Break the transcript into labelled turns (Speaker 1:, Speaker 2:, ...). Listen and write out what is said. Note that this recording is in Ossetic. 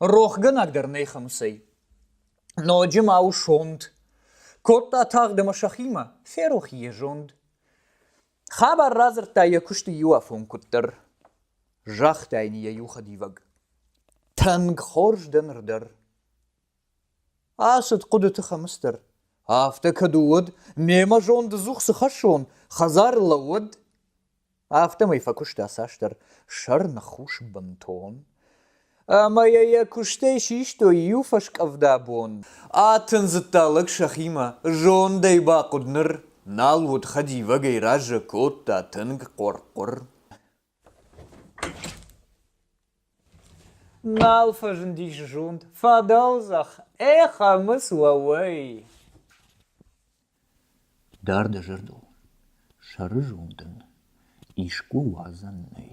Speaker 1: Рохгӕнӕг дӕр нӕ Хӕмыцӕй. Ноджы ма у сонт. Кодта тагъд ӕмӕ сӕхимӕ, ферох йӕ зонд. Хабар радзырдта йӕ куысты иуафон куыддӕр, загъта йын йӕ иухӕдивӕг. Тынг хорз дӕ ныр дӕр. Ацыд хъуыдыты Хӕмыц дӕр. Афтӕ кӕд уыд, мемӕ зонддзух цы хӕссон, хӕдзар лӕууӕд. Афтӕмӕй фӕкуыста цасдӕр сӕр ныхус бынтон. Ӕмӕ йӕ йӕ куыстӕй систой иу фӕскъӕвда бон. Атындзыдта лӕг сӕхимӕ. Зондӕй бахъуыд ныр. Нал уыд хӕдивӕгӕй разы, кодта тынг хъуыр-хъуыр. Нал фӕзындис зонд, фӕдӕлзӕх ӕй Хӕмыц уӕвӕй. Дард зӕрдыл сӕрызондӕн искуы уадзӕн нӕй.